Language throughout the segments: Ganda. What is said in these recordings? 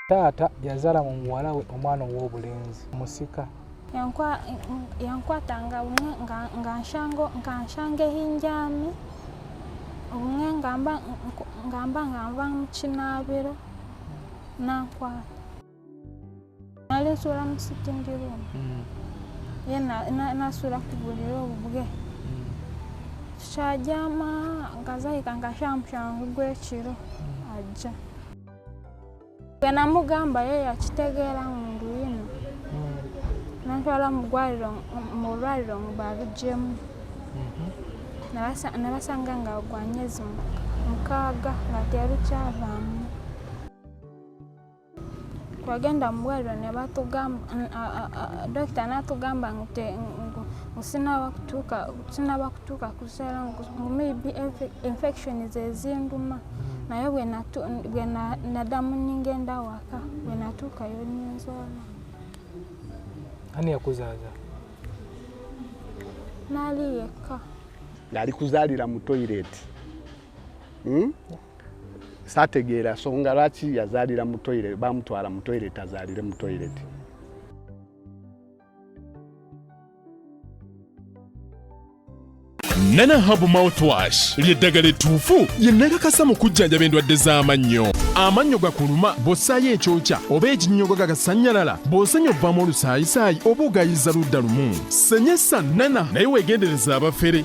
taata yazala mu muwala we omwana ow'obulenzi musika yankwata nga bumwe nkanshanga ehinjami bumwe ngamba ngamba nva mu kinaabiro nankwata Nali nsula mu sitting room. Mm. Ye nasula ku buliri obubwe. Mm. Kyajama ngazayika nga shamushangu gw'ekiro mm. ajja. Gwe namugamba ye yakitegeera mu ndu yino. Mm. Nantwala mu ggwaliro mu lwaliro mu balugyemu. Mm-hmm. Nabasanga nga gwa myezi mukaaga nga terukyavaamu. twagenda mu bwaliro ne batugamba dokita n'atugamba nsinaba kutuuka sinaba kutuuka kuzaala ngu maybe infection zezinduma naye bwe nadamu ningenda waka bwe natuukayo ninzaala ani yakuzaaza nali yekka nali kuzaalira mu toyireti hmm? sategeera songa lwaki yazaalira mu toilet bamutwala mu toilet azaalire mu toilet nana habu mouthwash lyeddagala ettuufu lye nakakasa mu kujjanjaba endwadde z'amannyo amannyo gakuluma bw'ossaayo ekyokya oba ekinnyogo gagasannyalala bw'osenya obvamu olusaayisaayi oba ogayiza ludda lumu senyesa nana naye weegendereza abafere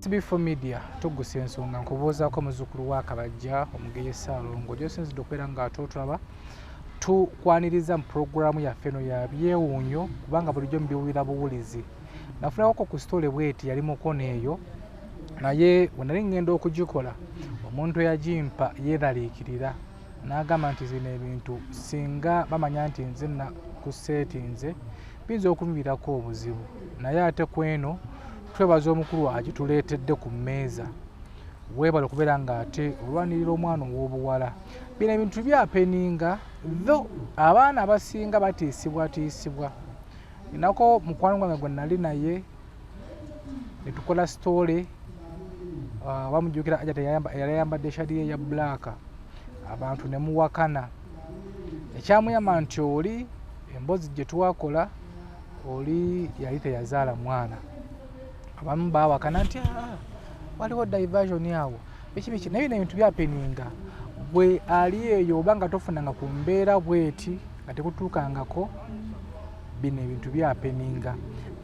tbfo media tugusa ensonga nkubuuzaako muzukulu wa kabajja omugeye saalongo gyosinzidde okubeera nga ate otulaba tukwaniriza mu pulogulaamu yaffe eno ya byewuunyo kubanga bulijjo mubiwulira buwulizi nafunakoko ku sitole bweti yali mukono eyo naye wenali ŋŋenda okugikola omuntu eyagimpa yeeraliikirira N'agamba nti zino ebintu singa bamanya nti nze ku seeti nze biyinza okunviirako obuzibu naye ate ku eno twebaza omukulu agituleetedde ku mmeeza weebale okubeera ng'ate olwanirira omwana ow'obuwala bino ebintu byapeninga tho abaana abasinga batiisibwatiisibwa enako mukwano gwange gwe nali naye netukola story ah, bamujukira ajat yali ayambadde shadiye ya black abantu nemuwakana ekyamuyamba nti oli embozi gyetwakola oli yali teyazaala mwana abamu bawakana nti ah, waliwo diversion awo bikibiki naye bino ebintu byapeninga gwe ali eyo oba nga tofunanga ku mbeera bweti nga tekutuukangako bino ebintu byapeninga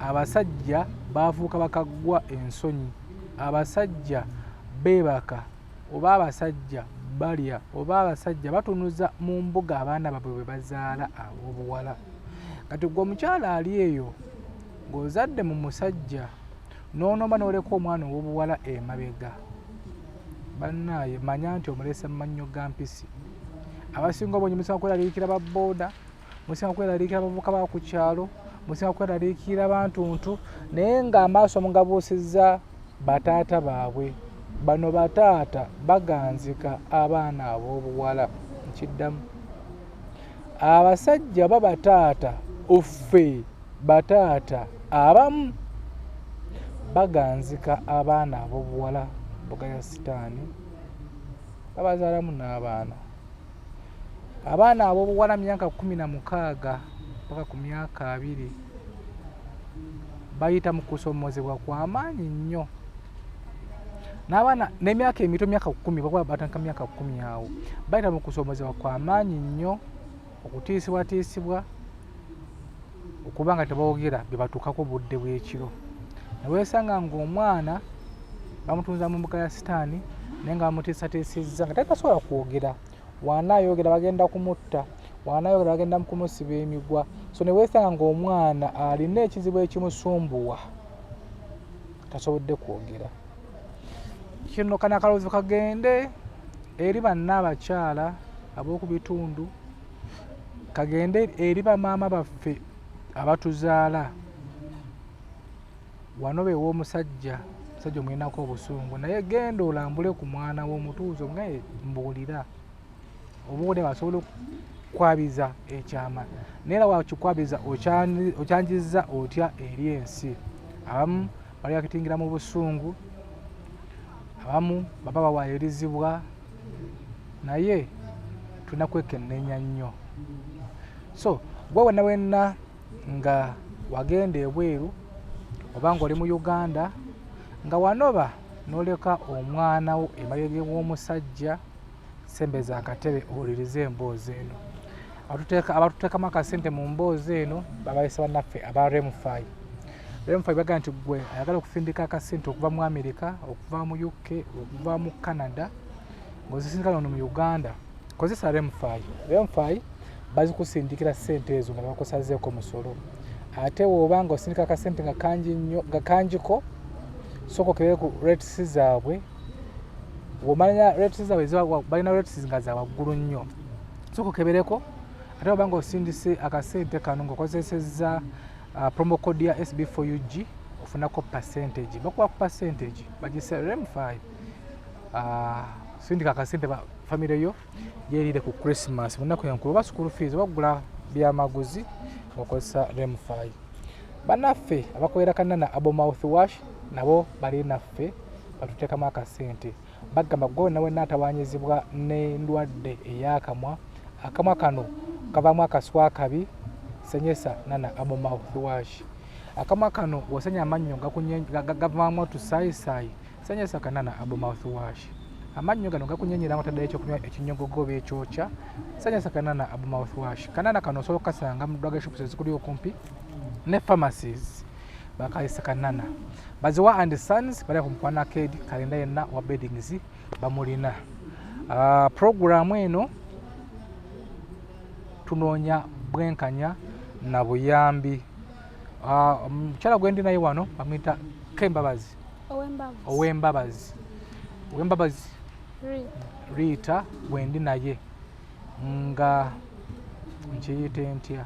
abasajja baafuuka bakaggwa ensonyi abasajja beebaka oba abasajja balya oba abasajja batunuza mu mbuga abaana babwe bwe bazaala ab'obuwala kati gwe omukyala ali eyo ng'ozadde mu musajja nonomba noleka omwana owobuwala emabega banaye manya nti omulese mumannyo ga mpisi abasinga obungi musinga kweraliikira baboda musinga kweraliikira abavuka ba ku kyalo musinga kweraliikira bantuntu naye nga amaaso mugabuusiza bataata baabwe bano bataata baganzika abaana ab'obuwala nkiddamu abasajja oba bataata offe bataata abamu baganzika abaana abobuwala mboga ya sitaani babazaalamu n'abaana abaana abobuwala myaka kumi na mukaaga mpaka ku myaka abiri bayita mu kusoomozebwa kwa maanyi nnyo n'abaana n'emyaka emito myaka kumi bakuba batanka myaka kumi awo bayita mu kusomozebwa kwa maanyi nnyo okutiisibwatiisibwa okuba nga tebawogera bye batuukako budde bw'ekiro neweesanga ng'omwana bamutunza mu mbuga ya sitaani naye nga bamutiisatiisizza nga tatasobola kwogera waana ayogera bagenda kumutta waana ayogera bagenda kumusiba emigwa so neweesanga ng'omwana alina ekizibu ekimusumbuwa tasobodde kwogera kino kana akaloozo kagende eri banna abakyala ab'oku bitundu kagende eri bamaama baffe abatuzaala wano beewa omusajja omusajja omulinako obusungu naye genda olambule ku mwana w'omutuuzo ngaye mbuulira obuwode basobola okukwabiza ekyama naye era wakikwabiza okyanjizza otya eri ensi abamu bali bakitingira mu busungu abamu baba bawayirizibwa naye tulina kwekennenya nnyo so gwe wenna wenna nga wagenda ebweru oba ng'oli mu uganda nga wanoba n'oleka omwana wo emabega w'omusajja sembeza akatebe owulirize emboozi eno abatuteekamu akasente mu mboozi eno babayisa banaffe aba remfi remfi baga nti gwe ayagala okufindika akasente okuva mu amerika okuva mu uk okuva mu canada ngaozisindika nono mu uganda kozesa remfi remfi bazikusindikira sente ezo nga bakusazeeko musolo ate woba nga osindika akasente nga kangiko soko kebere ku rates zaabwe womanya rates zaabwe balina rates nga za waggulu nnyo soka okebereko ate oba nga osindise akasente kano ngaokozesezza uh, promo code ya sb 4 ug ofunako percentage bakuba ku percentage bagisrm 5 uh, sindika akasente famire yo gyerire ku christmas munaku enkulu oba school fees oba kugula byamaguzi okozesa remfi banaffe abakolera kanana abo mouth wash nabo bali naffe batuteekamu akasente bagamba gwe wena wena atawanyizibwa nendwadde eyakamwa akamwa kano kavamu akaswa kabi senyesa nana abo mouth wash akamwa kano wosenya amannyo gavamu otusayisaayi sanyasa kanana abu mouthwash amannyo gano gakunyenyera nga otaddeyo ekyokunywa ekinyogogo oba ekyokya sanyasa kanana abu mouthwash kanana kano osobola okukasanga mu drug shops ezikuli okumpi ne pharmacies bakayisa kanana baziwa and sons bali ku mukwana akedi kalenda yenna wa beddings bamulina ah, programu eno tunoonya bwenkanya na buyambi ah, omukyala gwendi naye wano bamwita kembabazi ow'embabazi ow'embabazi riita bwendi naye nga nkiyite ntya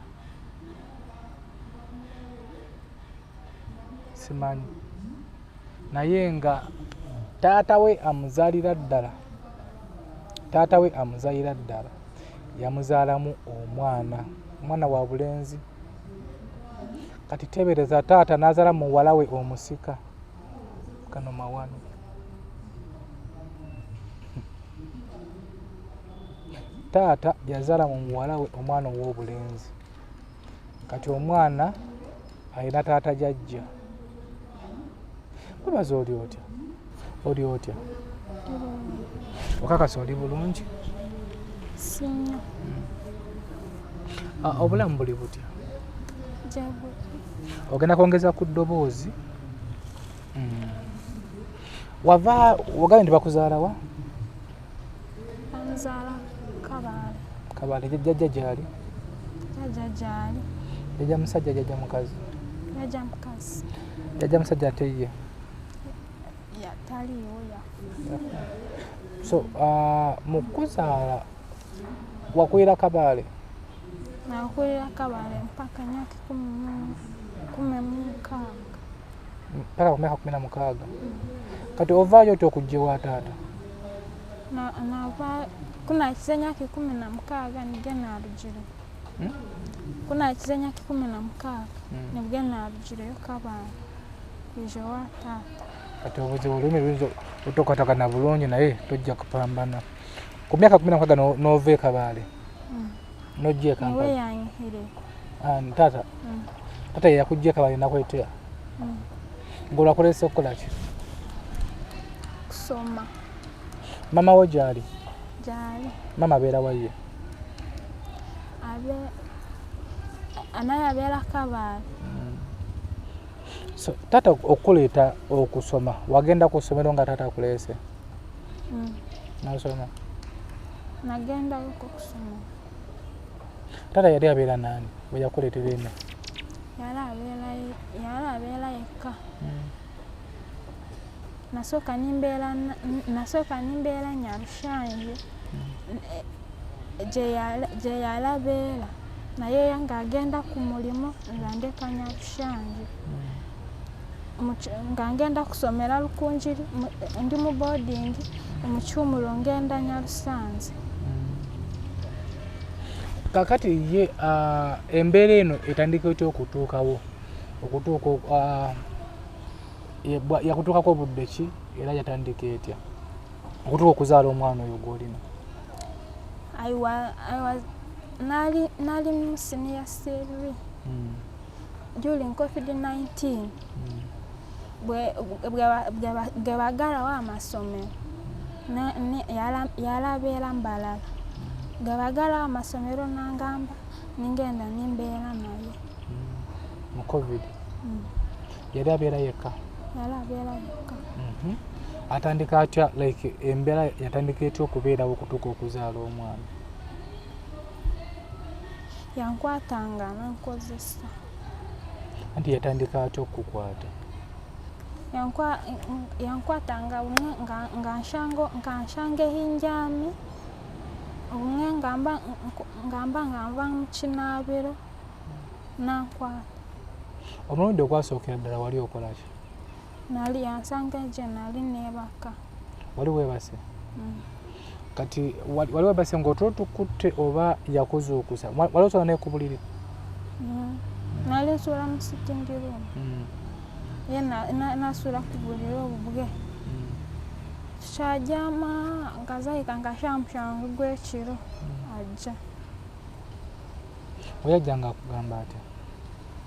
simanyi naye nga taata we amuzaalira ddala taata we amuzaalira ddala yamuzaalamu omwana omwana wa bulenzi kati tebereza taata nazala muwalawe omusika kano mawano taata yazala mu muwalawe omwana owobulenzi kati omwana alina taata jajja webaza oli otya oli otya okakasa oli bulungi sinyo ah, obulamu buli butya ogenda kwongeza ku ddoboozi hmm. wava wagambye nti bakuzaalawa Bamuzaala Kabaale. Kabaale jajja gyali? Jajja gyali. Jajja musajja jajja mukazi? Jajja mukazi. Jajja musajja ate ye? Taliiwo yafa. So uh, mu kuzaala wakulira Kabaale? Nakulira Kabaale mpaka myaka kumi mu mukaaga. Mpaka ku myaka kumi na mukaaga. Mm. Kati ovaayo oti okujja ewa taata? kunakiza emyaka ikumi na mukaaga nibwe narugire hmm? kunakiza emyaka ikumi na mukaaga hmm. nibwe narugireyo kabanga kwija wa taata kati obuzibu olulimi luyinza otokatagana bulungi naye tojja kupambana ku myaka kumi na mukaaga n'ova e kabaale nojja ekampala ah, taata mm. taata yeyakujja ekabala enakwetea mm. ngaolakulese okukola ki kusoma mama wo gyali gyali mama abeera waye anaye abeera kabaala mm. so taata okukuleeta okusoma wagenda ku ssomero nga taata akuleese Mm. Nasoma. Nagenda huko kusoma. Tata yali abeera nani? Bwe yakuleetera eno. Yali abeera yali abeera yekka. Mm. Nasooka nimbeera nasooka nimbeera Nyarushanje mm. gye yali abeera naye ng'agenda ku mulimu nga ndeka Nyarushanje. Mm. nga ngenda kusomera Rukungiri ndi mu boarding mu Kyumuro ngenda Nyarusanze. Kakati ye uh, embeera eno etandika otya okutuukawo okutuuka uh, yakutuukako obudde ki era yatandika etya okutuuka okuzaala omwana oyo gwolina? nali nali mu siniya seerwi hmm. during covid-19 bwebagalawo amasomero yalabeera mbalala bwebagalawo amasomero nangamba ningenda nimbeera naye mu covid mm. yali abeera yekka yali abeera yekka mhm. atandika atya like embeera yatandika etya okubeerawo okutuuka okuzaala omwana yankwata nga nankozesa anti yatandika atya okukukwata yankwata nga umwe nkanshanga ehinjami umwe ngamba ngamba ngamba mukinabiro nankwata omulundi ogwasookera ddala wali okolaki nali yansanga gye nali neebaka wali weebase mm. kati wali weebase ng'otulo tukutte oba yakuzuukusa wali osula naye ku buliri mm. nali nsula mu sitingi room mm. ye nasula ku buliri obubwe kyajama ngazayika nga shamushangu gw'ekiro ajja oyajja nga akugamba atya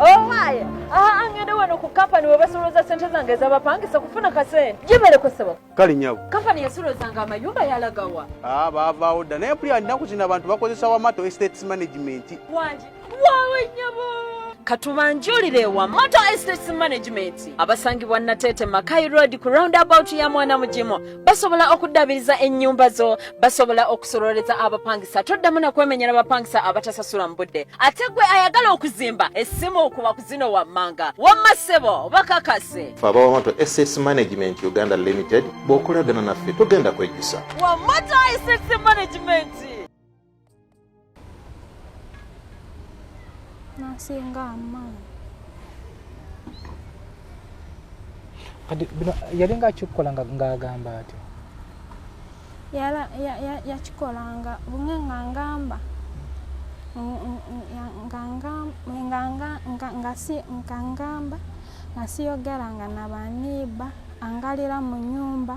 owaye oh, aha angende wano ku kampani webasolooza sente zange ezabapangisa kufuna kasente gibalekwesebo kale nyabo kampani yasolozanga amayumba yalagawa ah, baavaawo dda naye puli alinaku kino abantu bakozesa wamato estates management wangi wawe nyabo katubanjulire ewa moto estates management abasangibwa nateete makai road ku roundabout ya mwana mugimu basobola okuddabiriza ennyumba zo basobola okusololeza abapangisa toddamu nakwemenyera bapangisa abatasasula mu budde ate gwe ayagala okuzimba essimu okuba ku zino wammanga wamma ssebo bakakase fe abawamato ss management uganda limited bw'okolagana naffe togenda kwejjusa wamata ss management nasinga amaanyi kati bino yalinga akikukola ng'agamba atyo yakikolanga bumwe nga ngamba ngangamba nga siyogeranga na baniiba angalira mu nyumba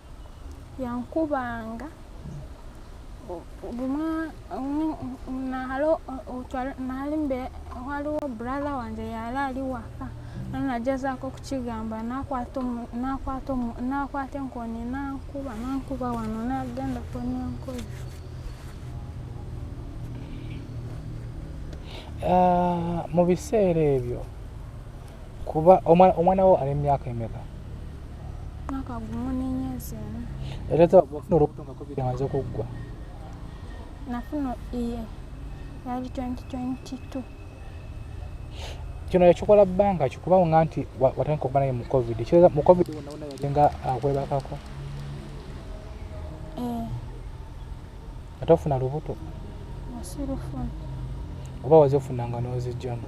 yankubanga bumwa nalo nalimbe waliwo brother wange yali ali waka nanagezaako okukigamba nakwata enkoni nankuba nankuba wano nagenda konenkozi ah, mu biseera ebyo kuba omwana wo ali mumyaka emeka mwaka gumu nenyezi ena era tewafuna olubuto nga covid amaze okuggwa nafuna iye yali 2022 kino yakikola bbanga ki kuba nga nti watandika okuba naye mu covid kireza mu covid wonawona yali nga akwebakako eh. ate ofuna lubuto oba wazifunanga n'ozijjamu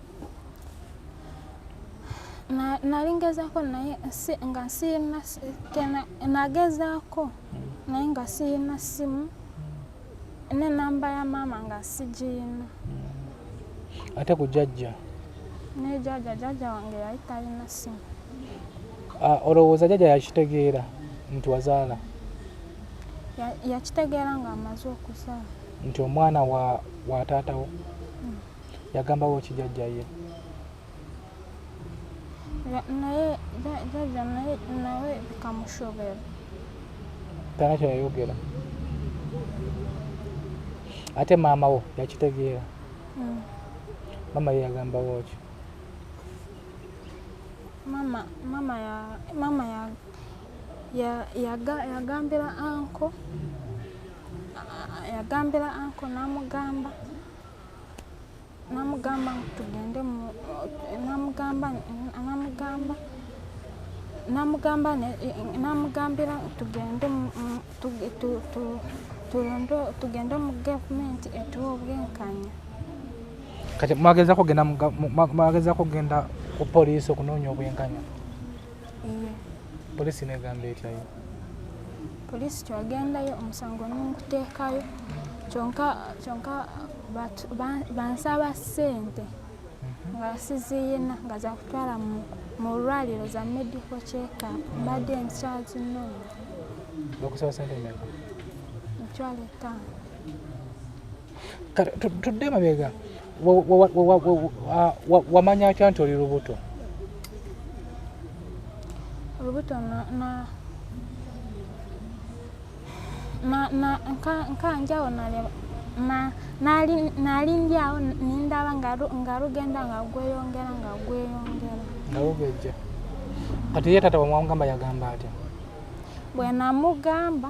nali ngezaako naye nga sirina nagezaako naye nga sirina ssimu nenamba ya maama nga sigirina ate ku jajja ne jajja jajja wange yali talina ssimu ah, olowooza jajja yakitegeera nti wazaala yakitegeera ng'amaze okuzaala nti omwana wa taatawo yagambawo ki jajja ye naye jajja naye nawe bikamushobera tana kyeyayogera ate maama wo yakitegeera hmm. maama ye yagambawo ki mama mama ya mama ya ya yaga yagambira anko yagambira anko namugamba namugamba tugende namugamba namugamba namugamba namugambira tugende tugende mu gavumenti etuwa obwenkanya kati mwagezako genda mwagezako genda ku poliisi okunoonya obwenkanya polisi negamba etyayo polisi twagendayo omusango nonkuteekayo kyonka bansaba sente mhm. nga siziyina nga zakutwala mu lwaliro za medical checkup mbadde nkyazinoonya bakusaba sente meka mitwalo etaano tudde mabega wamanya atya nti oli lubuto olubuto nkanjawo naleba nalindyawo nindaba nga lugenda nga gweyongera nga gweyongera nga lugejja kati ye tata wamwamugamba yagamba atya bwenamugamba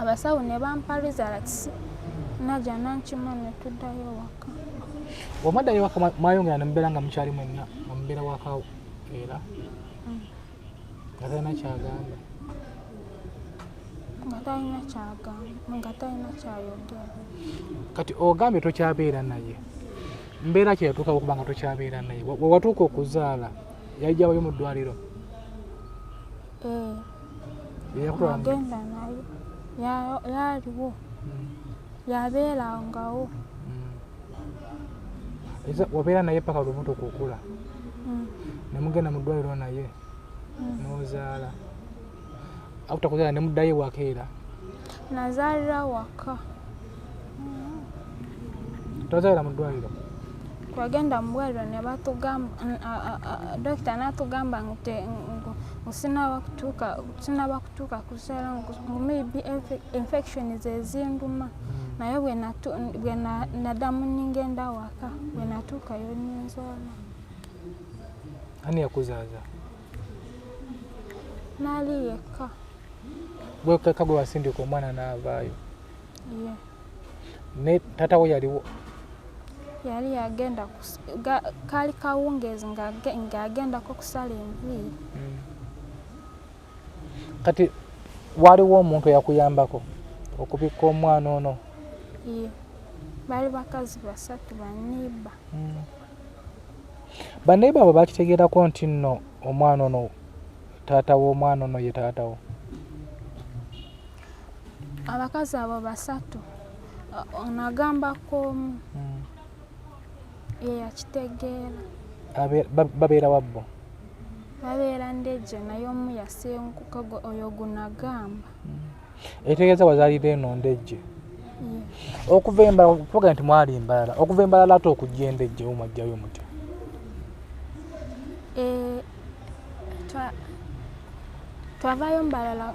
abasawo ne bampa results naja nankima ne tuddayo waka wamwaddayo waka mwayongera ne mubeera nga mukyali mwenna nga mubeera waka era mm. nga talina kyagamba nga talina kyagamba nga talina kyayogera kati ogambye tokyabeera naye mbeera kye yatuukawo okuba nga tokyabeera naye wewatuuka okuzaala yali gyabayo mu ddwaliro Eh. agenda naye yaliwo hmm. yabeerangawo hmm. wabeera naye paka lubuto kukula hmm. nemugenda mu ddwaliro naye nozaala akutakuzaala nemuddayo wakeera nazaalira waka tozalira mu ddwaliro twagenda mu ddwaliro ne batugamba dokita n'atugamba nti sinaba kutuuka sinaba kutuuka kuzaala ngu maybe infection zezinduma hmm. naye bwe nadamu ningenda waka bwe natuukayo ninzaala ani yakuzaaza nali yekka gwekeka gwe wasindika omwana n'avaayo ne tata wo yaliwo yali yagenda kaali kawungeezi ng'agendako kusala enviiri hmm. kati waliwo omuntu eyakuyambako okubikka omwana ono baali bakazi basatu baniiba hmm. baniiba abo bakitegeerako nti nno omwana ono taata w'omwana ono ye taata wo abakazi abo basatu ono agambako omu hmm. yeyakitegeera babeera wabbo babeera ndeje naye omu yasenguka oyo gunagamba hmm. ekitegeeza wazalira eno ndeje okuva embala tuga nti mwali mbalala okuva embalala ate okujja endejje omwajjayo mutya twavaayo mbalala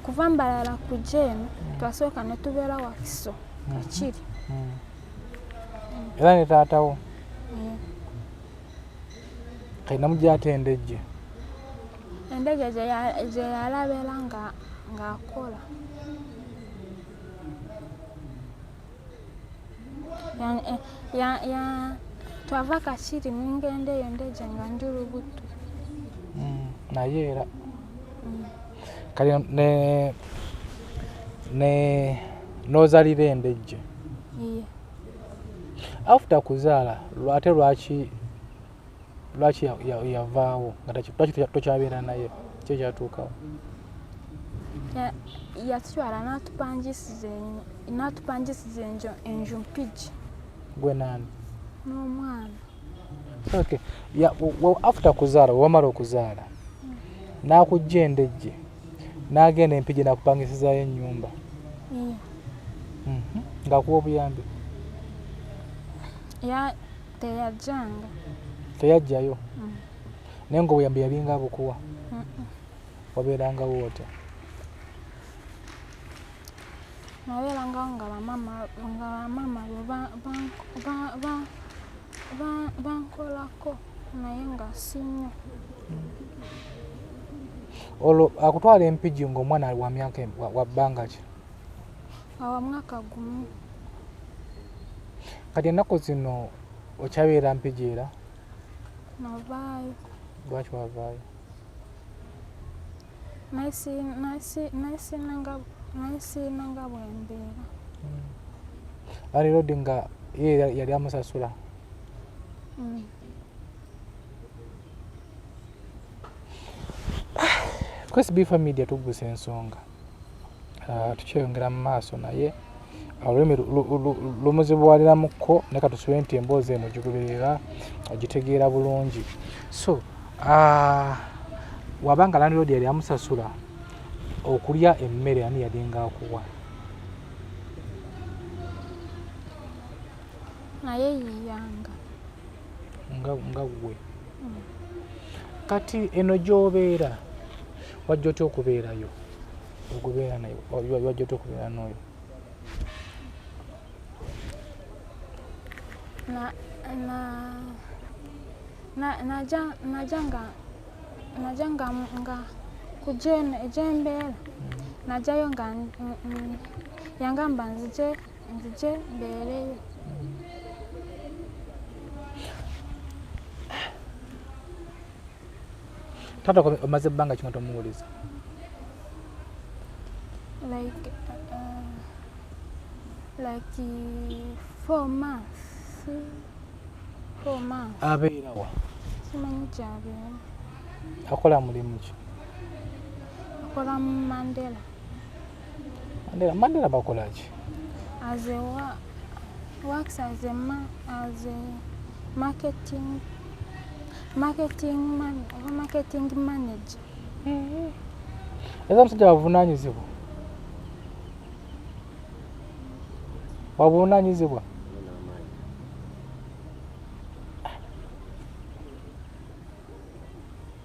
kuva mbalala ku jeeni mm. twasooka ne tubeera wakiso mm-hmm. kakiri mm. era ne taatawo mm. kalina mugyate endejje endege gyeyalabera ng'akola twava kakiri nengenda eyo ndeja nga ndi lubuto mm, naye era mm. kale ne ne nozalira endejje after kuzaala ate lwaki lwaki yavaawo lwaki tokyabeera naye ki ekyatuukawo yatutwala natupangisiza enjo enju mpigi gwe naani n'omwana okay after kuzaala wewamala okuzaala nakujja endejje nagenda empigi nakupangisizayo enyumba mhm. ngakuwa obuyambi teyajjanga teyajjayo mm. naye nga obuyambi yalinga abukuwa wabeerangawo otya nabeerangawo nga bamama nga bamama bankolako naye nga sinyo olwo akutwala empigi ngaomwana wa myaka wa bbanga ki awa mwaka gumu kati ennaku zino okyabeera mpigi era navaayo lwaki wavaayo nayisiina nga bwembeera hmm. ali rodi nga ye yali amusasula hmm. kwesi bifa media tugusa ensonga ah, tukyeyongera mu maaso naye olulimi lumuzibuwaliramukko ne katusube nti emboozi eno gigubirira ogitegeera bulungi so ah, wabanga landiroodi yali amusasula okulya emmere ani yalinga akuwa naye yiyanga nga nga gwe kati eno gyobeera wajja otya okubeerayo okubeera naye wajja otya okubeera n'oyo naja nga nga kujeno ejembeera najayo nga yangamba nzije nzije mbeereyo taata omaze ebbanga kinga tomuwuliza like uh, like four months four months abeerawa simanyi kyabeera akola mulimu ki akola mu mandela Mandela, Mandela bakolaki? As a wa works as a ma as a marketing marketing man oba marketing manager. Mm-hmm. Eza musajja wavunaanyizibwa wabuvunaanyizibwa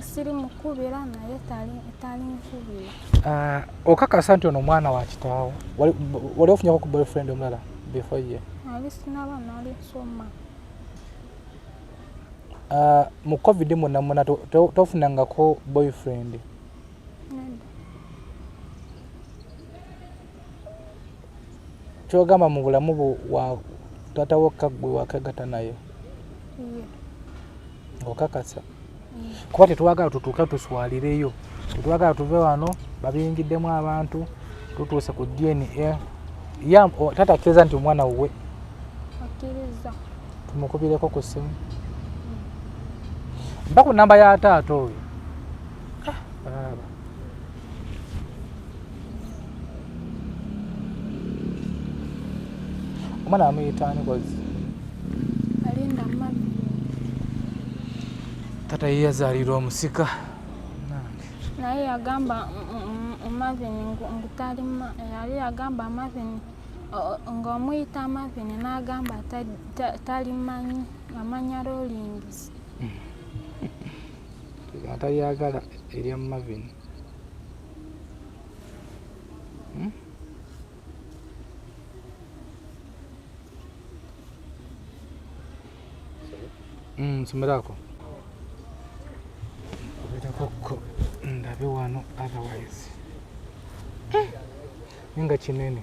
siri mukubira naye talinkubira ah, okakasa nti ono omwana wa kitaawo wali ofunyako ku boyfriend omulala before ye ali sinaba nali nsoma ah, mu covid mwonna mwonna tofunangako boyfriend kyogamba mu bulamu bu wa taata wokka gwe wakegata naye okakasa kuba tetwagala tutuuka tuswalireyo tetwagala tuve wano babiyingiddemu abantu tutuuse ku dna ya taata akkiriza nti omwana wuwe tumukubireko ku ssimu mba ku namba ya taata oyo omwana amuyitaani kozi alinda mami tata ye yazaalirwa omusika naye yagamba omavini ngutali yali yagamba amavini ng'omuyita amavini n'agamba talimanyi amanya lolingizi atalyagala erya Marvin hmm? hmm, nsomeraako oberakokko ndabe wano otherwise hmm. nga kinene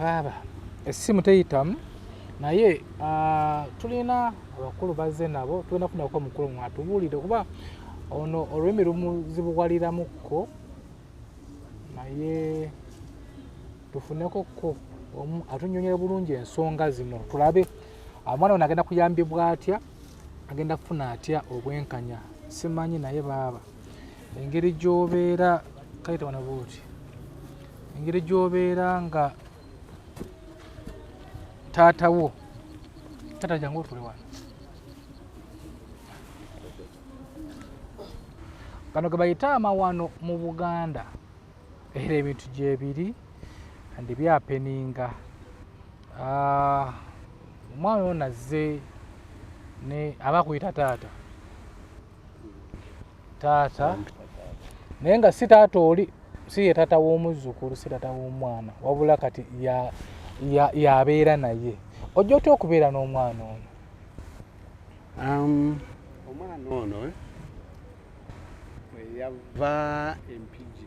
baaba essimu teyitamu naye ah, tulina abakulu bazze nabo tulina kunako omukulu mwatubuulire kuba ono olulimi lumuzibuwaliramukko naye tufuneko ko omu atunyonyera bulungi ensonga zino tulabe omwana ono agenda kuyambibwa atya agenda kufuna atya obwenkanya simanyi naye baaba engeri gyobeera kayita wana bwoti engeri gyobeera nga taata wo taata jangu otule wano gano ge bayita amawano mu buganda era ebintu gyebiri andi byapeninga ah, omwana ono azze aba kuyita taata taata naye nga si taata oli si ye taata w'omuzzukulu si taata w'omwana wabula kati yabeera ya, ya naye ojja otya okubeera n'omwana ono um, omwana ono eh? yava empigi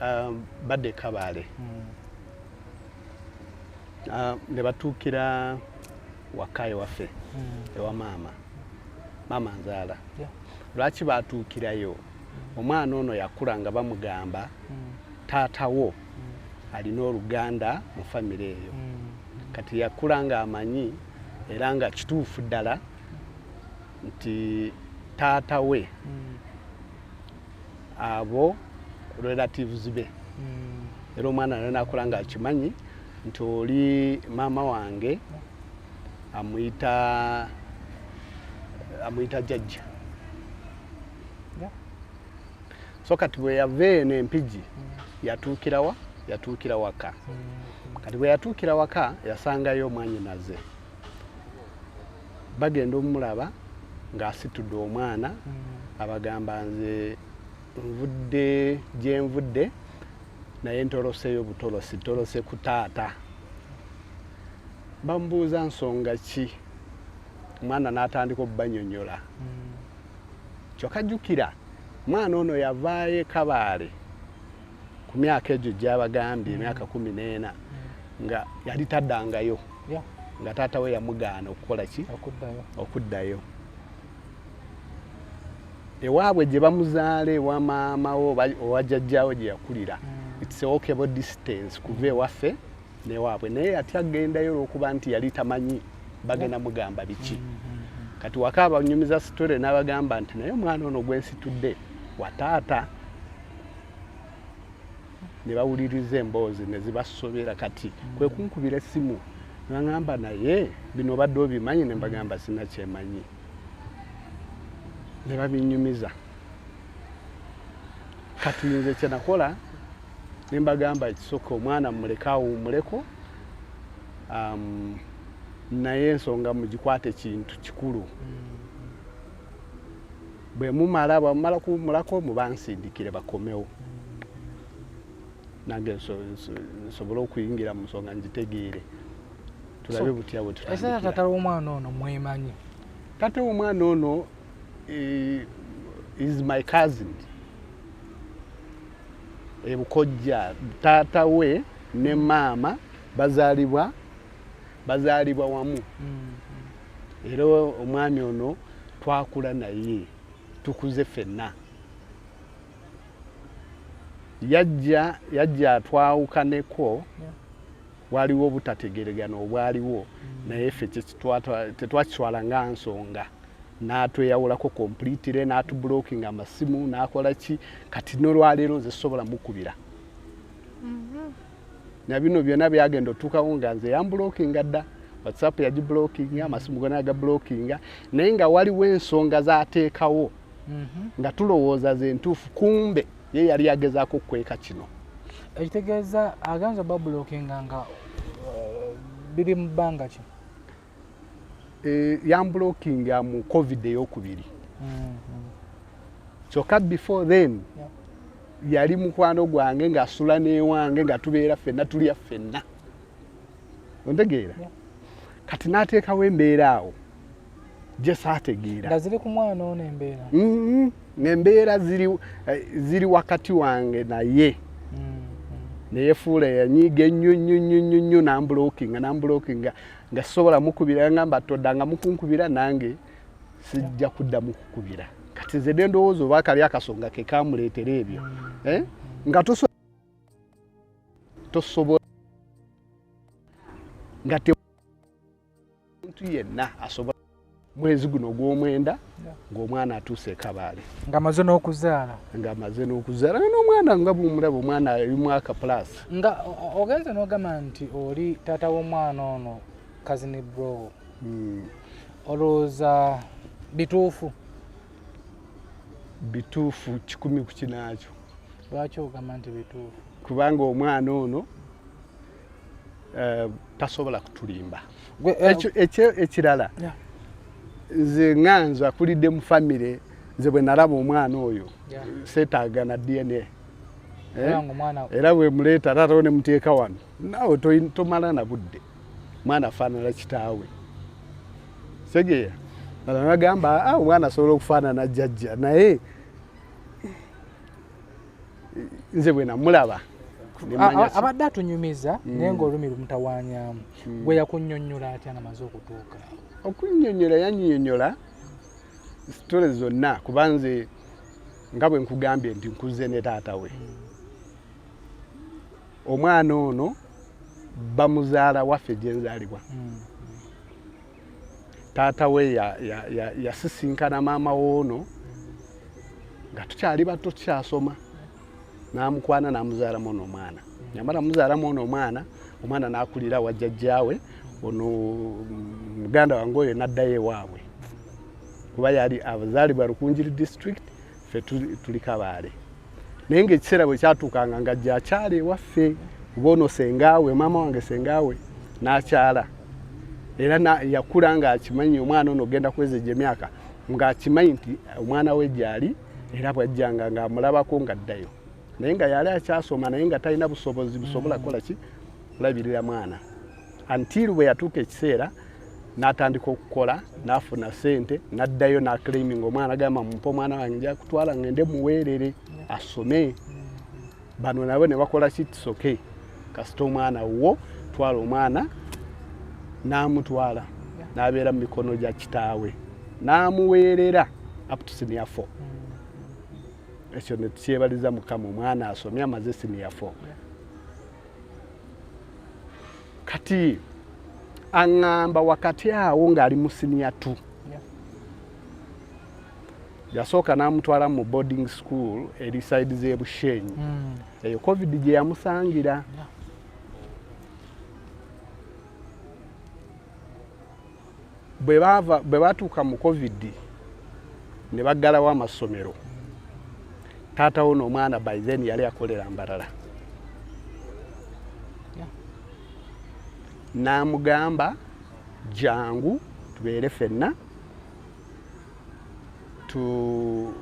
um, badde kabaale hmm. um, ne batuukira waka ewaffe hmm. ewa maama maama nzaala lwaki baatuukirayo omwana ono yakula nga bamugamba hmm. taata wo hmm. alina oluganda mu famire eyo hmm. kati yakula nga amanyi era nga kituufu ddala nti taata we abo relatives be era omwana nanakola nga akimanyi nti oli maama wange amuyita amuyita jajja so kati bwe yava eno empigi mm. yatuukirawa yatuukira waka mm. kati bwe yatuukira waka yasangayo omwanyinaze bagenda omulaba ng'asitudde omwana mm. abagamba nze nvudde gyenvudde naye ntoloseyo butolosi tolose ku taata bamubuuza nsonga ki omwana n'atandika okubanyonyola hmm. kyokka jjukira omwana ono yavaayo ekabaale ku myaka egyo gyabagambye hmm. emyaka kumi n'ena hmm. nga yali taddangayo nga taata we yamugaana okukola ki okuddayo ewaabwe gye bamuzaala ewa maama wo owa jajjaawo gye yakulira it's a walkable distance kuva ewaffe newaabwe naye ati agendayo olwokuba nti yali tamanyi bagenda mugamba biki mm, mm, mm. kati waka abanyumiza sitore n'abagamba nti naye omwana ono gwensitudde wataata ne bawuliriza emboozi ne zibasobera kati kwe kunkubira essimu nangamba naye bino obadde obimanyi ne mbagamba sina kyemanyi ne babinyumiza kati nze kyenakola ne mbagamba ekisooka omwana mumuleke awuumuleko um, naye ensonga mugikwate kintu kikulu bwe mumala bwamumala kuwumulako mubansindikire bakomewo nange nsobole okuyingira mu nsonga ngitegeere tulabe butya bwetutata womwana ono mwemanyi tata womwana ono eh, is my cousin ebukojja taata we ne maama bazaalibwa bazaalibwa wamu mm-hmm. era omwami ono twakula naye tukuze fenna yajja yajja atwawukaneko Waaliwo obutategeregana obwaliwo naye ffe tetwakitwala nga nsonga natweyawulako completely natublocking amasimu nakola ki kati nolwaleero nze sobola mukubira mm-hmm. na bino byona byagenda otuukawo nga nze yambulokinga dda whatsapp yagibulokinga amasimu gona yagabulokinga naye nga waliwo ensonga zateekawo mm-hmm. nga tulowooza ze ntuufu kumbe ye yali agezaako okukweka kino ekitegeeza agenza obabulokinga nga uh, biri mu bbanga ki eh, yambulokinga mu covid eyokubiri mm-hmm. kyokka before then yali mukwano gwange ngaasula newange nga tubeera ffenna tulya ffenna ontegeera kati n'ateekawo embeera awo gye saategeera nga ziri ku mwana ono embeera mm-hmm. ng'embeera eh, ziri wakati wange naye mm-hmm. neyefuula yanyiiga ennyo nnyo nnyo nnyo nnyo nambulokinga nambulokinga nga sisobola mukubira ngamba todda nga mukunkubira nange sijja kudda mukukubira kati nze ne ndowooza oba kali akasonga ke kamuleetera ebyo mm-hmm. eh? nga tosobola nga omuntu yenna asobola mwezi guno ogw'omwenda ng'omwana atuuse ekabaale ng'amaze n'okuzaala ng'amaze n'okuzaala nga n'omwana nga bumulaba omwana ali mwaka pulaasi nga ogenze n'ogamba nti oli taata w'omwana ono kazini bro hmm. olowooza bituufu bituufu kikumi ku kinaakyo lwaki ogamba nti bituufu kubanga omwana ono eh, tasobola kutulimba eh, ekirala nze nga nze akulidde mu famire nze bwe nalaba omwana oyo seetaaga na dna eh? era bwe muleeta tatawo ne muteeka wano naawe tomala na budde mwana afaanana kitaawe segeya agamba ah, omwana asobola okufaanana jajja naye nze bwe namulaba abadde atunyumiza hmm. naye ngaolumi lumutawanyamu hmm. gwe yakunyonyola atya nga maze okutuuka okunyonyola yanyonyola sitole zonna kuba nze nga bwe nkugambye nti nkuze ne taata we hmm. omwana ono bamuzaala waffe gyenzaalibwa taata we yasisinkana maama woono nga tukyali bato tukyasoma namukwana namuzaalamu ono omwana yamala muzaalamu ono omwana omwana nakulira wajjajjaawe ono muganda wange oyo naddayo ewaabwe kuba yali abazaalibwa lukunjiri district ffe tuli kabaale naye ngaekiseera bwe kyatuukanga nga gyakyala ewaffe kuba ono sengaawe maama wange sengaawe n'akyala era yakula ng'akimanyi omwana ono ogenda kweza egyo emyaka ng'akimanyi nti omwana we gyali era bwajjanga ng'amulabako ng'addayo naye nga yali akyasoma naye nga talina busobozi busobola kukola ki kulabirira mwana until bwe yatuuka ekiseera n'atandika okukola n'afuna sente n'addayo n'aclaiminga omwana agamba mumpa omwana wange nja kutwala ngende muweerere asome bano nabo ne bakola kitisoke kasita omwana wo twala omwana n'amutwala n'abeera mu mikono gya kitaawe n'amuweerera up to senior four ekyo ne tukyebaliza mukama omwana asomye amaze senior four kati aŋŋamba wakati awo ng'ali mu siniya tu yasooka n'amutwala mu boarding school eri side z'ebushenyi hmm. eyo covid gye yamusangira bwe baava bwe baatuuka mu covid ne baggalawo amassomero taata wo n'omwana by then yali akolera mbarala n'amugamba jangu tubeere fenna tu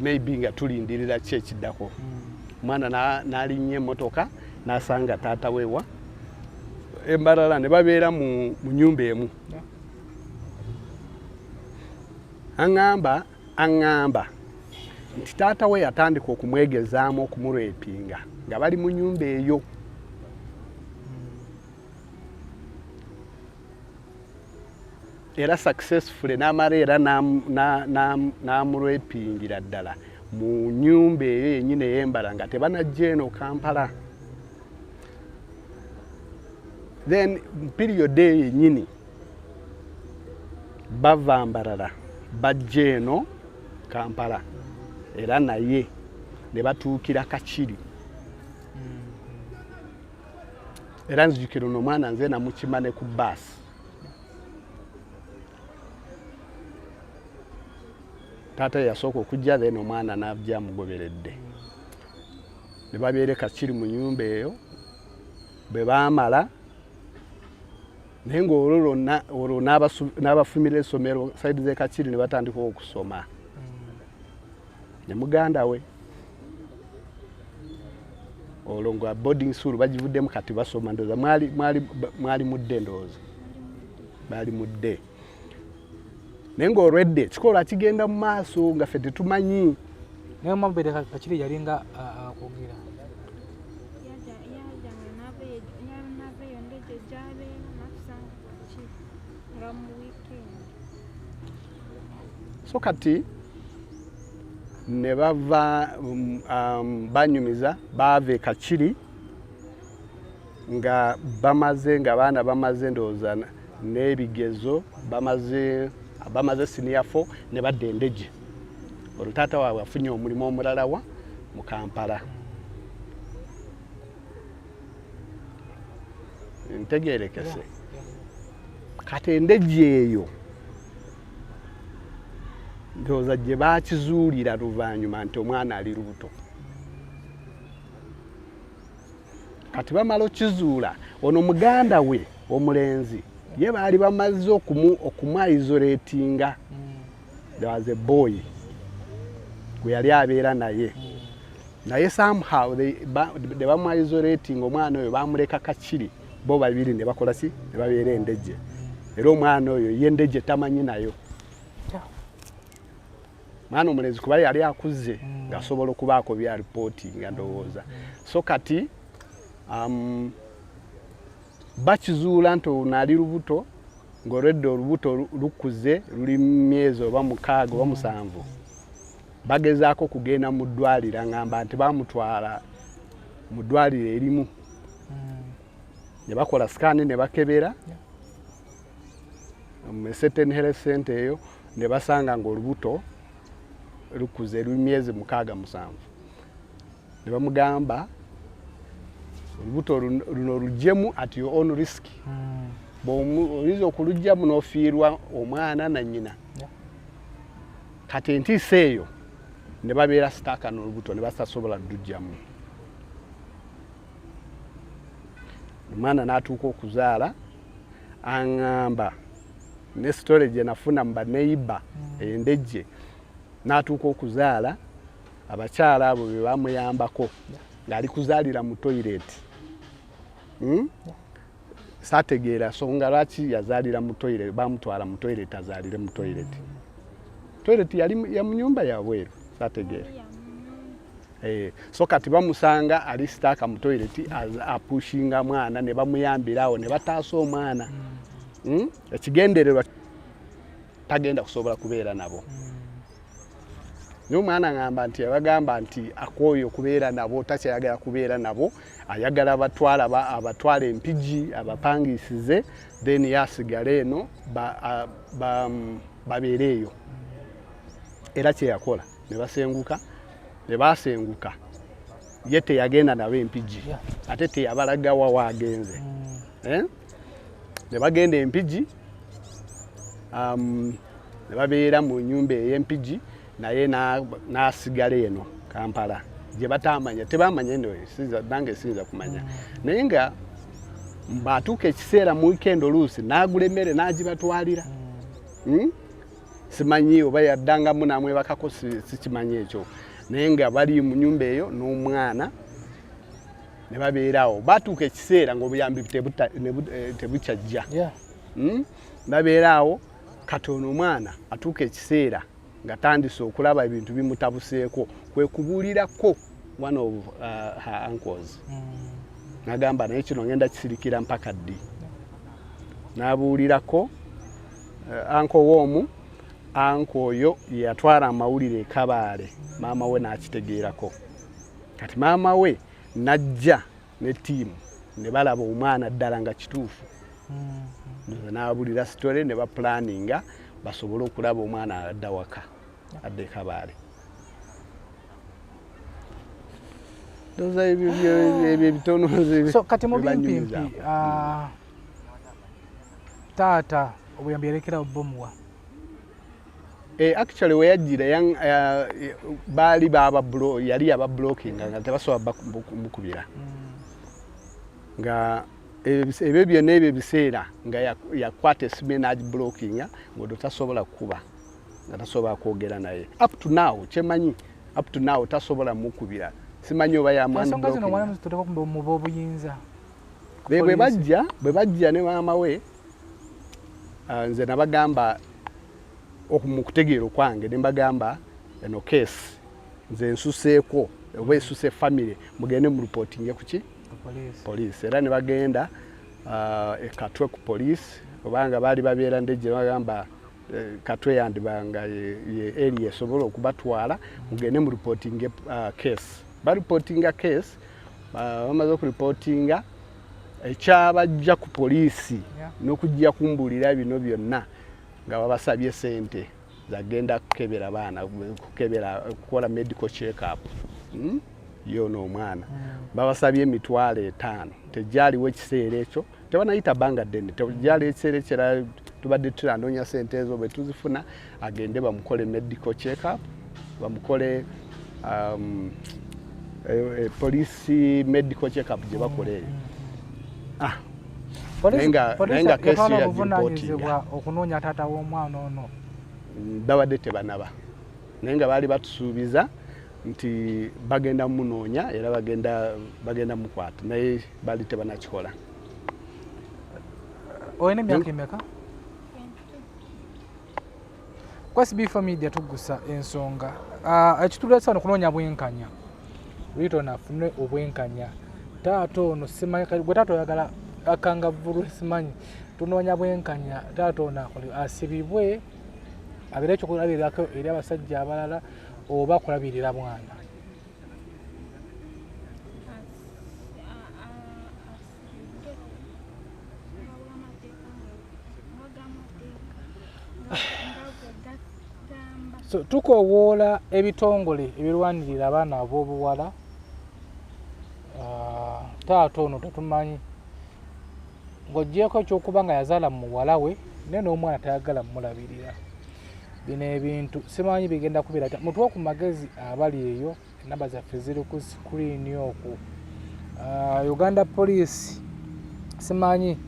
maybe nga tulindirira ki ekiddako hmm. mwana nalinnya emotoka nasanga taata wewa embalala ne babeera mu nyumba emu aŋamba aŋamba nti taata we yatandika okumwegezaamu okumurepinga nga bali mu nyumba eyo era successfully n'amala era n'amulwepingira ddala mu nyumba eyo yenyini eyembala nga tebanajja eno kampala then period eyo yenyini bava mbarara bajja eno kampala era naye ne batuukira kakiri mm-hmm. era nzijukira ono omwana nze namukima ne ku baasi taata yasooka okujja then omwana najja amugoberedde ne babeere kakiri mu nyumba eyo bwe baamala naye ngaolwo lwonna olwo n'abafumira essomero saidi z'ekakiri ne batandika okusoma ne muganda we olwo nga boarding school bagivuddemu kati basoma ndowooza mwali, mwali, mwali mudde ndowooza baali mudde naye ngaolwedde kikola kigenda mu maaso nga fe tetumanyi naye omabere kakiri yalinga akwogera so kati ne bava um, um, banyumiza baava ekakiri nga bamaze nga baana bamaze ndowooza n'ebigezo bamaze bamaze siniya fo ne badda endege olwo taata waabwe afunye omulimu omulalawa mu kampala ntegerekese kati endejji eyo ndowooza gye bakizuulira luvannyuma nti omwana ali lubuto kati bamala okizuula ono muganda we omulenzi ye baali bamaze okumwayizoletinga mm. there was a boy gwe yali abeera naye naye somehow ne bamwaisorating omwana oyo bamuleka kakiri bo babiri ne bakola ki ne babeera endejje era omwana oyo ye ndejje tamanyi nayo mwana omulenzi kuba yali akuzze mm. ng'asobola okubaako bya ripooti nga ndowooza so kati um, bakizuula nti ono ali lubuto ng'olwedde olubuto lukuze luli myezi oba mukaaga oba musanvu bagezaako kugenda mu ddwaliro ngamba nti bamutwala mu ddwaliro erimu hmm. ne bakola sikaani ne bakebera mu certain health center eyo ne basanga ng'olubuto lukuze luli myezi mukaaga musanvu ne bamugamba olubuto luno lujjemu at your own risk hmm. oyinza okulujjamu n'ofiirwa omwana na nyina kati entiisa eyo ne babeera sitaaka n'olubuto ne basasobola lujjamu omwana n'atuuka okuzaala aŋamba ne sitole gye nafuna mu baneiba hmm. endejje n'atuuka okuzaala abakyala abo be bamuyambako ng'ali kuzaalira mu toyireti hmm? saategeera songa lwaki yazaalira mu toyireti bamutwala mu toyireti azaalire mu toyireti toyireti yali ya mu nyumba yabweru saategeera eh, so kati bamusanga ali sitaaka mu toyireti apushinga mwana ne bamuyambirawo ne bataasa omwana hmm? ekigendererwa tagenda kusobola kubeera nabo naye omwana ngamba nti abagamba nti akooye okubeera nabo takyayagala kubeera nabo ayagala abatwala abatwala empigi abapangisize then yasigala eno babeere eyo era kyeyakola nebasenguka nebasenguka ye teyagenda nabo empigi ate teyabalaga wa waagenze mm. eh? ne bagenda empigi um, ne babeera mu nyumba ey'empigi naye n'asigala eno kampala gye bataamanya tebamanya eno nange siyinza kumanya naye nga batuuka ekiseera mu wikendi oluusi n'agula emmere n'agibatwalira hmm? simanyi oba yaddangamu namwebakako sikimanyi ekyo naye nga bali mu nyumba eyo n'omwana ne babeerawo batuuka ekiseera ngaobuyambi eh, tebukyajja hmm? babeerawo katono omwana atuuka ekiseera nga tandise okulaba ebintu bimutabuseeko kwe kubuulirako one of uh, her uncles hmm. nagamba naye kino ngenda kisirikira mpaka ddi nabuulirako uh, anko woomu anko oyo yeyatwala amawulire ekabaale maama we n'akitegeerako kati maama we najja ne tiimu ne balaba omwana ddala nga kituufu mm-hmm. n'abulira sitole ne bapulaninga basobole okulaba omwana adda waka adde kabaale ndoza ebyo ebitono so kati mu bimpimpi ah, taata obuyambi yalekerawo bomuwa Eh, actually weyajjira eh, baali baba yali yaba blocking nga tebasobola mukubira mm. nga ebyo byonna ebyo ebiseera nga yakwata esimu enagi blockinga ngodo tasobola kukuba nga tasobola kwogera naye up to now kyemanyi up to now tasobola mukubira simanyi oba yamwanbwe bajja bwe bajja ne maama we ah, nze nabagamba mukutegeera okwange nembagamba eno case nze nsuseeko oba esuse family mugende mu reportinge kuki police era ne bagenda ah, ekatwe ku police obanga baali babeera ndejje bagamba eh, katwe yandibanga ye eri esobola okubatwala mugende mu reportinge ah, case ba reportinga case bamaze oku reportinga ekyabajja ku poliisi n'okujja kumbuulira bino byonna nga babasabye sente zagenda kukebera baana kukebera kukola medical checkup hmm? yoona omwana hmm. babasabye emitwalo etaano tegyaliwo ekiseera ekyo tebanayita banga ddene tegyaliwo ekiseera ekirala tubadde tulanoonya sente ezo bwe tuzifuna agende bamukole medical check up bamukole um, eh, eh, police medical check up gye bakola eyo ah, obuvunanyizibwa okunoonya taata w'omwana ono mm, babadde tebanaba naye nga baali batusuubiza nti bagenda munoonya era bagenda bagenda mukwata naye baali tebanakikola olina emyaka emeka kwasi bifa media tugusa ensonga ah, ekitulesa wano kunoonya bwenkanya riton afune obwenkanya taata ono simanyi gwe taata oyagala akangavulu simanyi tunoonya bwenkanya taata ono akole asibibwe abeere ekyokulabirirako eri abasajja abalala oba kulabirira mwana so tukoowoola ebitongole ebirwanirira abaana ab'obuwala ah, taata ono tetumanyi ng'ogyeko ekyokuba nga yazaala mu muwala we naye n'omwana tayagala mumulabirira bino ebintu simanyi bigenda kubera ta mutuwa ku magezi abali eyo enamba zaffe ziri ku sikuriini oku ah, uganda poliisi simanyi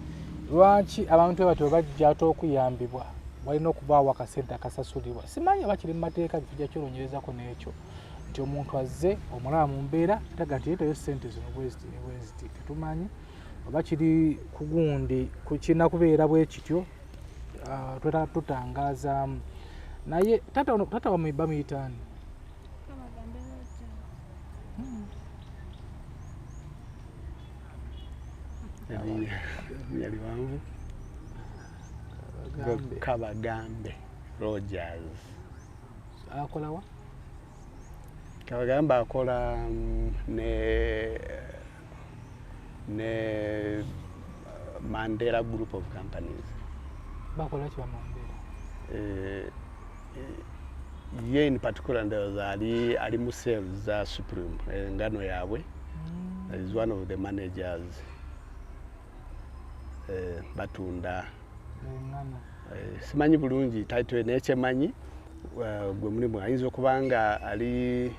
lwaki abantu ebatyo bajja ate okuyambibwa walina okubaawo akasente akasasulibwa simanyi oba kiri mu mateeka tujja kyolonyerezako n'ekyo nti omuntu azze omulaba mu mbeera taga nti yetayo sente zino bweziti ne bweziti tetumanyi oba kiri kugundi kirina kubeera bwe kityo ah, twetala tutangazaamu naye tata wamwe bamuyitaani yali wangu kabagambe rogers akolawa kabagambe akola mm, ne ne uh, mandela group of companies bakola ki bamandela eh, eh, ye in particular ndoza ali ali mu sales za supreme eh, ngano yabwe mm. is one of the managers eh, batunda eh, simanyi bulungi title nekyemanyi uh, gwe mulimu ayinza okuba nga ali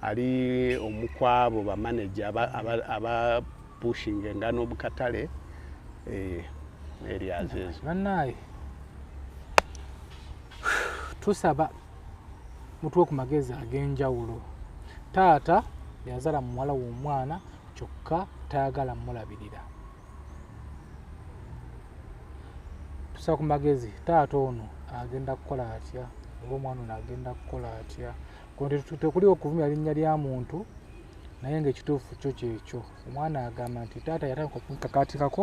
ali omukwabo bamaneja abapushinga aba, aba engano bukatale eh, areas ezo banaye tusaba mutuwe ku magezi ag'enjawulo taata yazala muwala w'omwana kyokka tayagala mulabirira tusaba ku magezi taata ono agenda kukola atya oba omwana ono agenda kukola atya tekuliwo kuvumya linnya lya muntu naye ngaekituufu kyo kyekyo omwana agamba nti taata yatandika okunkakaatikako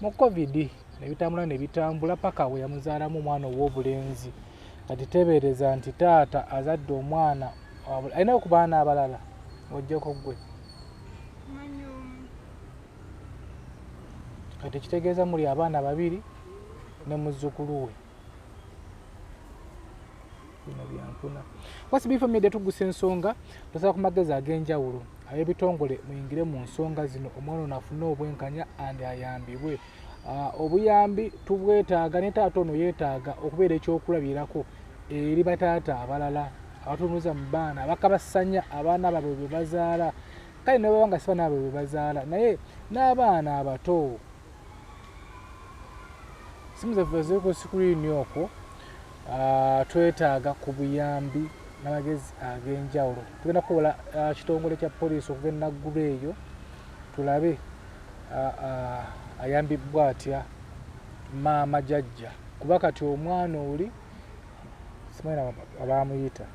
mu covid nebitambula nebitambula paka we yamuzaalamu omwana ow'obulenzi kati tebeereza nti taata azadde omwana alina okubaana abalala ojjeko gwe kati kitegeeza muli abaana babiri ne muzzukulu we bino byampuna kwasi bifa media tugusa ensonga tosaba ku magezi ag'enjawulo ab'ebitongole muyingire mu nsonga zino omwana ono afune obwenkanya andi ayambibwe ah, obuyambi tubwetaaga ne taata ono yeetaaga okubeera ekyokulabirako eri bataata abalala abatunuza mu baana abakabasanya abaana babwe bwe bazaala kale nababa nga siba naabwe bwe bazaala naye n'abaana abato simu zaffe ziri ku sikuriini okwo ah, twetaaga ku buyambi n'amagezi ag'enjawulo tugenda kukola ah, kitongole kya poliisi okuva enaggulu eyo tulabe ah, ayambibbwa atya maama jajja kuba kati omwana oli simanyina abaamuyita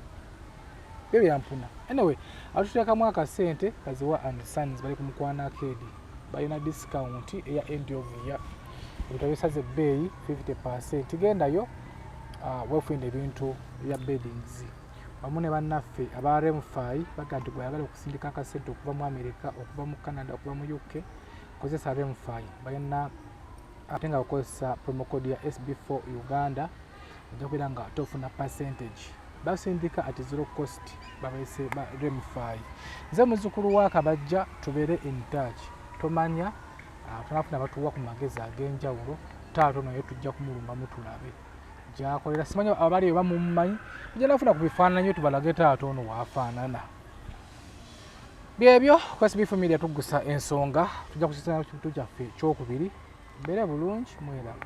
byo byampuna anyway atuteekamu akasente kaziwa and sons bali ku mukwano akeedi balina discount eya end of year ebintu bisaze ebbeeyi 50 percent gendayo uh, wefunira ebintu bya beddings wamu ne bannaffe aba remfi baga nti gweyagala okusindika akasente okuva mu america okuva mu canada okuva mu uk kozesa remfi balina ate nga bakozesa promocode ya sb4 uganda ojja kubeera nga tofuna percentage basindika at zero cost babese ba remify nze muzukulu wa kabajja tubeere in touch tomanya ah, tunafuna batuwa ku magezi ag'enjawulo taato naye tujja kumulumba mutulabe gyakolera simanyi abali oba mumumanyi tujja nafuna ku bifaananyi tubalage taato ono waafaanana byebyo kwesibifu media tugusa ensonga tujja kusisaana kitu kyaffe ekyokubiri mbeere bulungi mwerabe